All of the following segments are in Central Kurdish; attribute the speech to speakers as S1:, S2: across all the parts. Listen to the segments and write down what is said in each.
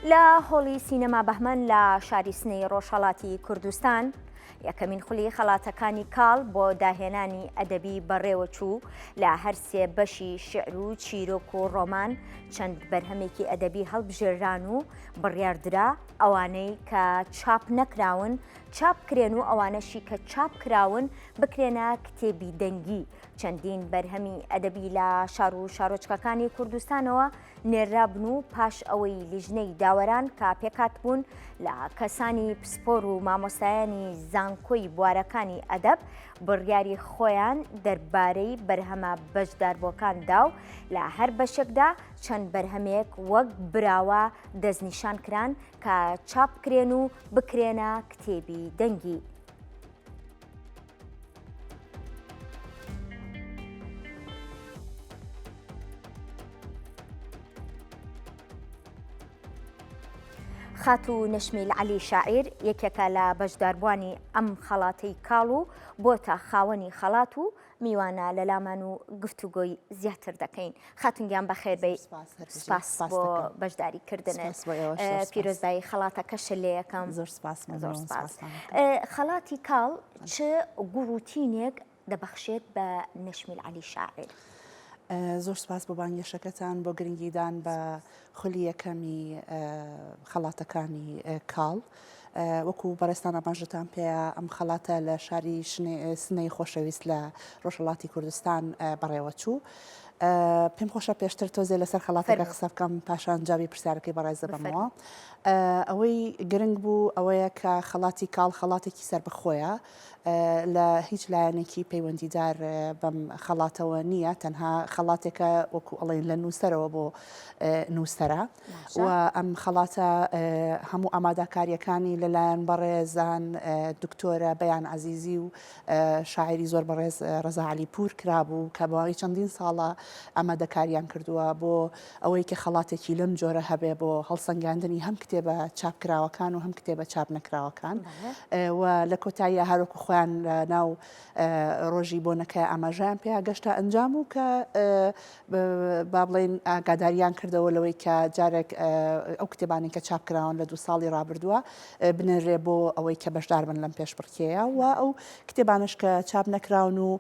S1: لە هۆڵی سینەما بەهمەن لە شاری سنەی ڕۆژهەڵاتی کوردستان یەکەمین خولی خەڵاتەکانی کاڵ بۆ داهێنانی ئەدەبی بەڕێوەچوو لە هەرسێ بەشی شعر و چیرۆک و ڕۆمان چەند بەرهەمێکی ئەدەبی هەڵبژێران و بڕیاردرا ئەوانەی کە چاپ نەکراون چاپ کرێن و ئەوانەشی کە چاپ کراون بکرێنە کتێبی دەنگی چەندین بەرهەمی ئەدەبی لە شار و شارۆچکەکانی کوردستانەوە نێررابن و پاش ئەوەی لیژنەی داوەران کە پێکاتبوون لە کەسانی پسپۆر و مامۆستایانی زانکۆی بوارەکانی ئەدەب بڕیاری خۆیان دەربارەی بەرهەمە بەشداربووەکان دا و لە هەر بەشێکدا چەند بەرهەمێک وەک براوە دەستنیشان کران کە چاپ کرێن و بکرێنە کتێبی دەنگی. خاتو نەشمیل علی شاعیر یەکێکە لە بەشداربووانی ئەم خەڵاتی کاڵ و بۆتە خاوەنی خەڵات و میوانە لەلامان و گفتوگۆی زیاتر دەکەین خاتون گیان بەخێربێی سپاس بۆ بەشداری کردنت پیرۆزبایی خەڵاتەکەشە لەکەم زۆر سپاس زۆر
S2: سپاس
S1: خەڵاتی کاڵ چ گوڕوتینێک دەبەخشێت بە نەشمیل علی شاعر.
S2: زۆر سپاس بۆ بانگێشەکەتان بۆ گرنگیدان بە خولی یەکەمی خەڵاتەکانی کاڵ. وەکو بەڕێزتان ئاماژەتان پێیە ئەم خەڵاتە لە شاری سنەی خۆشەویست لە ڕۆژهەڵاتی کوردستان بەڕێوەچوو. پێم خۆشە پێشتر تۆزێ لەسەر خەڵاتەکە قسە بکەم پاشان جاوی پرسیارەکەی بەڕێز دەبەمەوە. ئەوەی گرنگ بوو ئەوەیە کە خەڵاتی کاڵ خەڵاتێکی سەربەخۆیە لە هیچ لایەنێکی پەیوەندیدار بەم خەڵاتەوە نییە تەنها خەڵاتێکە وەکو ئەڵێن لە نووسەرەوە بۆ نووسرە و ئەم خەڵاتە هەموو ئاماداکاریەکانی لەلایەن بەڕێزان دکتۆرە بەیان عزیزی و شاعری زۆر بەڕێز ڕزاعلی پور کرابوو کە بەواوی چەندین ساڵە ئامادەکاریان کردووە بۆ ئەوەی کە خەڵاتێکی لەم جۆرە هەبێ بۆ هەڵسەنگاندنی هەم کتێبە چاپکراوەکان و هەم کتێبە چاپ نەکراوەکان و لە کۆتاییە هەروەکو خۆیان لە ناو ڕۆژی بۆنەکە ئاماژیان پێیا گەشتە ئەنجام و کە با بڵین ئاگاداریان کردەوە لەوەی کە جارێک ئەو کتێبانی کە چاپکراون لە دو ساڵی ڕابردووە بنێرێ بۆ ئەوەی کە بەشدار بن لەم پێشبڕکێیە و ئەو کتێبانش کە چاپ نەکراون و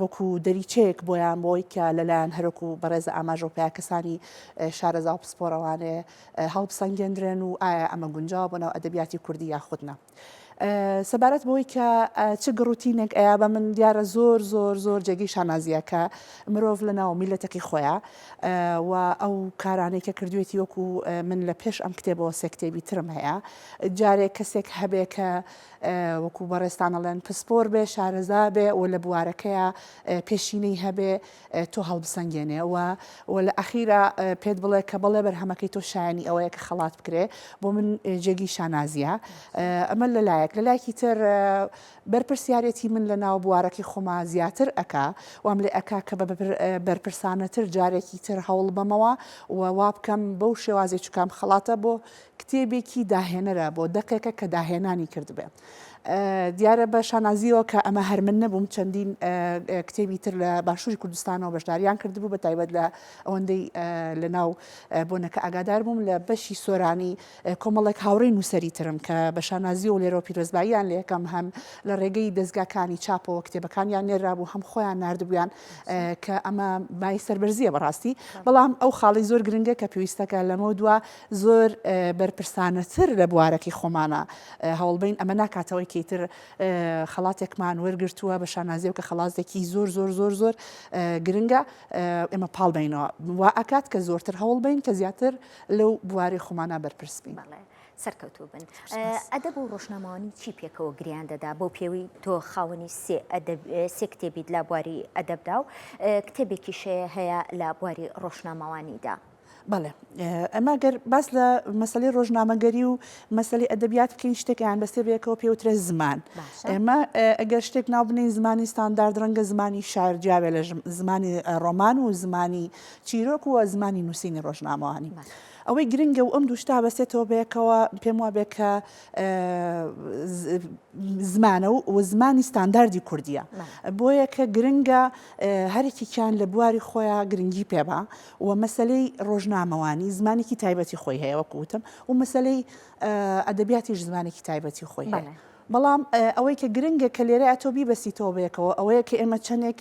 S2: وەکو دەریچەیەک بۆیان بۆی کە لەلایەن هەرۆک و بەڕێزە ئاماژەو پیا کەسانی شارەزا و پسپۆڕەوانێ هەڵبسەنگێندرێن و ئایا ئەمە گونجاوە بۆ ناو ئەدەبیاتی کوردی یاخود نا. سەبارەت بەوەی کە چ گڕوتینێک ئەیا بە من دیارە زۆر زۆر زۆر جێگەی شانازیە کە مرۆڤ لە ناو میلەتەکەی خۆیا و ئەو کارانەی کە کردوێتی وەکو من لە پێش ئەم کتێبەوە سێ کتێبی ترم هەیە جارێ کەسێک هەبێ کە وەکو بەڕێزتان ئەڵێن پسپۆر بێ شارەزا بێ و لە بوارەکەیا پێشینەی هەبێ تۆ هەڵبسەنگێنێ و و لە ئەخیرا پێت بڵێ کە بەڵێ بەرهەمەکەی تۆ شایەنی ئەوەیە کە خەڵات بکرێ بۆ من جێگی شانازیە ئەمە لە لایەک لە لایەکی تر بەرپرسیارەتی من لە ناو بوارەکەی خۆما زیاتر ئەکا وام لێ ئەکا کە بە بەرپرسانەتر جارێکی تر هەوڵ بەمەوە و وا بکەم بەو شێوازی چکام خەڵاتە بۆ کتێبێکی داهێنەرە بۆ دەقێکە کە داهێنانی کردبێ. دیارە بە شانازیەوە کە ئەمە هەر من نەبووم چەندین کتێبی تر لە باشووری کوردستانەوە بەشداریان کردبوو بە تایبەت لە ئەوەندەی لە ناو بۆنەکە ئاگادار بووم لە بەشی سۆرانی کۆمەڵێک هاوڕێی نووسری ترم کە بە شانازی و لێرەوە پیرۆزباییان لە یەکەم هەم لە ڕێگەی دەستگاکانی چاپەوە کتێبەکانیان نێرابوو هەم خۆیان نردبوویان کە ئەمە بای سربەرزیە بەڕاستی بەڵام ئەو خاڵی زۆر گرنگە کە پێویستەکە لەمە دووە زۆر بەرپرسانەتر لە بوارەکەی خۆمانە هەوڵبەین ئەمە ناکاتەوەی کە ئیتر خەڵاتێکمان وەرگرتووە بە شانازیەوە کە خەڵاتێکی زۆر زۆر زۆر زۆر گرنگە ئێمە پاڵ بینەوە وا ئەکات کە زۆرتر هەوڵ بین کە زیاتر لەو بواری خۆمانە بەرپرس بین. سەرکەوتوو بن
S1: ئەدەب و ڕۆژنامەوانی چی پێکەوە گریان دەدا بۆ پێوی تۆ خاوەنی سێ کتێبیت لە بواری ئەدەبدا و کتێبێکیشەیە هەیە لە بواری ڕۆژنامەوانیدا بەڵێ
S2: ئەمە گەر باس لە مەسلی ڕۆژنامەگەری و مەسلی ئەدەبیات بکەین شتێکیان بەستێ بەیەکەوە پێوترە زمان ئێمە ئەگەر شتێک ناوبنین زمانی ستاندارد ڕەنگە زمانی شار جیاوێ لە زمانی ڕۆمان و زمانی چیرۆک و زمانی نووسینی ڕۆژنامەوانی. ئەوەی گرنگە و ئەم دوشتا بەسێتەوە بەیەکەوە پێم وابێ کە زمانە و و زمانی ستانداردی کوردیە بۆیە کە گرنگە هەرکیان لە بواری خۆیان گرنگی پێبا و مەسەلەی ڕۆژنامەوانی زمانێکی تایبەتی خۆی هەیە وەکو وتم و مەسەلەی ئەدەبیاتیش زمانێکی تایبەتی خۆی هەیە. بەڵام ئەوەی کە گرنگە کە لێرە ئەتۆ بیبەسیتەوە بەیەکەوە ئەوەیە کە ئێمە چەندێک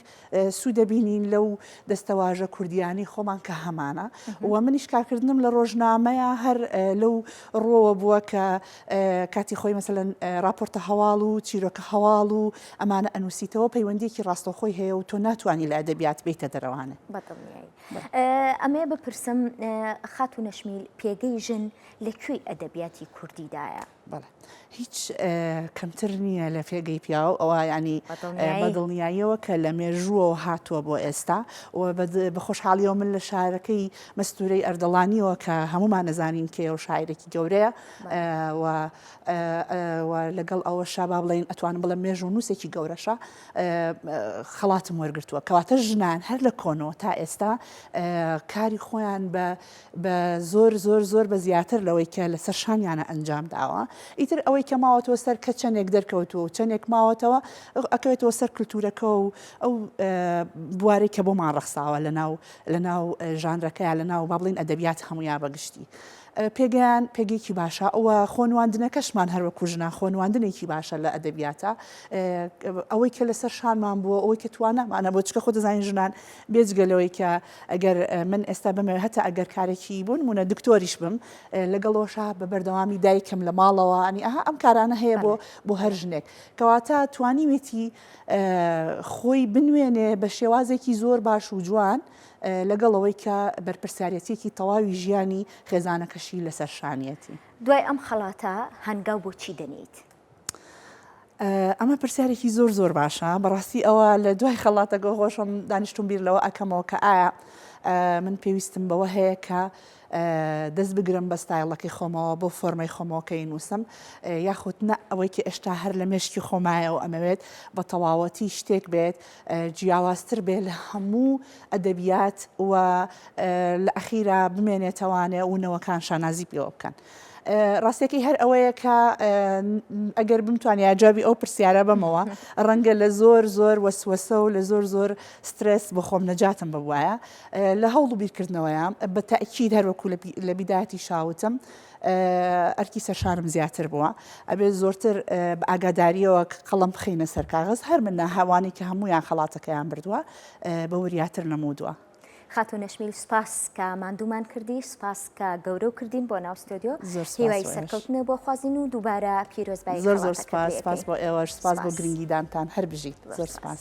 S2: سوود دەبینین لەو دەستەواژە کوردییانەی خۆمان کە هەمانە و منیش کارکردنم لە ڕۆژنامەیە هەر لەو ڕووەوە بووە کە کاتی خۆی مەسەلەن ڕاپۆرتە هەواڵ و چیرۆکە هەواڵ و ئەمانە ئەنووسیتەوە پەیوەندیەکی ڕاستەوخۆی هەیە و تۆ ناتوانانی لە ئەدەبیات بیتە دەرەوانێ
S1: ئەمێ بپرسم خاتو نەشمیل پێگەی ژن لە کوێی ئەدەبیاتی کوردیدایە بەڵێ
S2: هیچ کەمتر نییە لە پێگەی پیاو ئەوە ینی بەدڵنیاییەوە کە لە مێژووەوە هاتووە بۆ ئێستا و بە خۆشحاڵیەوە من لە شارەکەی مەستورەی ئەردەڵانیەوە کە هەمومان نەزانین کێ و شاعرێکی گەورەیە و و لەگەڵ ئەوەشا با بڵێین ئەتوانم بڵێم مێژوو نووسێکی گەورەشە خەڵاتم وەرگتووە کەواتە ژنان هەر لە کۆنەوە تا ئێستا کاری خۆیان بە بە زۆر زۆر زۆر بە زیاتر لەوەی کە لەسەر شانیانە ئەنجام داوە ئیتر ئەوەی کە ماوەتەوە سەر کە چەندێک دەرکەوتووە و چەندێک ماوەتەوە ئەکەوێتەوە سەر کللتورەکە و ئەو بوارێک کە بۆمان ڕەخساوە لە ناو لە ناو ژانرەکەیان لە ناو با بڵین ئەدەبیات هەمویا بەگشتی پێگەیان پێگەیەکی باشە و خۆنواندنەکەشمان هەر وەکوو ژنان خۆنواندنێکی باشە لە ئەدەبیاتە ئەوەی کە لەسەر شانمان بووە ئەوەی کە توانامانە بۆ چکە خۆ دەزانین ژنان بێجگە لەوەی کە ئەگەر من ئێستا بمەوێت هەتا ئەگەر کارێکی بوون مونە دکتۆریش بم لەگەڵۆشە بە بەردەوامی دایکم لە ماڵەوە ئەنی ئەها ئەم کارانە هەیە بۆ بۆ هەر ژنێک کەواتە توانیوێتی خۆی بنوێنێ بە شێوازێکی زۆر باش و جوان لەگەڵ ئەوەی کە بەرپرسیارەتیەکی تەواوی ژیانی خێزانەکەشی لەسەر شانیەتی. دوای ئەم خەڵاتە
S1: هەنگاو بۆ چی دەنێیت؟
S2: ئەمە پرسیارێکی زۆر زۆر باشە بەڕاستی ئەوە لە دوای خەڵاتەگە هۆشم دانیشتون بیر لەوە ئەکەمەوە کە ئایا من پێویستم بەوە هەیە کە دەست بگرم بە ستایڵەکەی خۆمەوە بەو فۆرمەی خۆمەوە کە ئینوسم یاخود نە ئەوەی کە ئێشتا هەر لە مێشکی خۆمایە و ئەمەوێت بە تەواوەتی شتێک بێت جیاوازتر بێت لە هەموو ئەدەبیات و لە ئەخیرا بمێنێتەوانێ و نەوەکان شانازی پێوە بکەن. ڕاستەکەی هەر ئەوەیە کە ئەگەر بمتوانیا جوابی ئەو پرسیارە بەمەوە ڕەنگە لە زۆر زۆر وەسوەسە و لە زۆر زۆر سترێس بۆ خۆم نەجاتم ببوایە لە هەوڵ و بیرکردنەوەیە بە تەئکید هەر وەکو لە بیداتیشا وتم ئەرکی سەرشارم زیاتر بووە ئەبێ زۆرتر بە ئاگاداریەوە قەڵم بخینە سەر کاغز هەر من ناهاوانی کە هەمویان خەڵاتەکەیان بردووە بە وریاتر نەمودووە. خاتو نەشمیل
S1: سپاس کە ماندوومان کردی سپاس کە گەورە و کردین بۆ ناو ستۆدیۆ هیوای سەرکەوتنە بۆ خوازین و دووبارە پیرۆزبایی
S2: زۆر زۆر
S1: سپاس
S2: سپاس بۆ ئێوەش
S1: سپاس
S2: بۆ گرنگیدانتان هەر بژیت زۆر سپاس.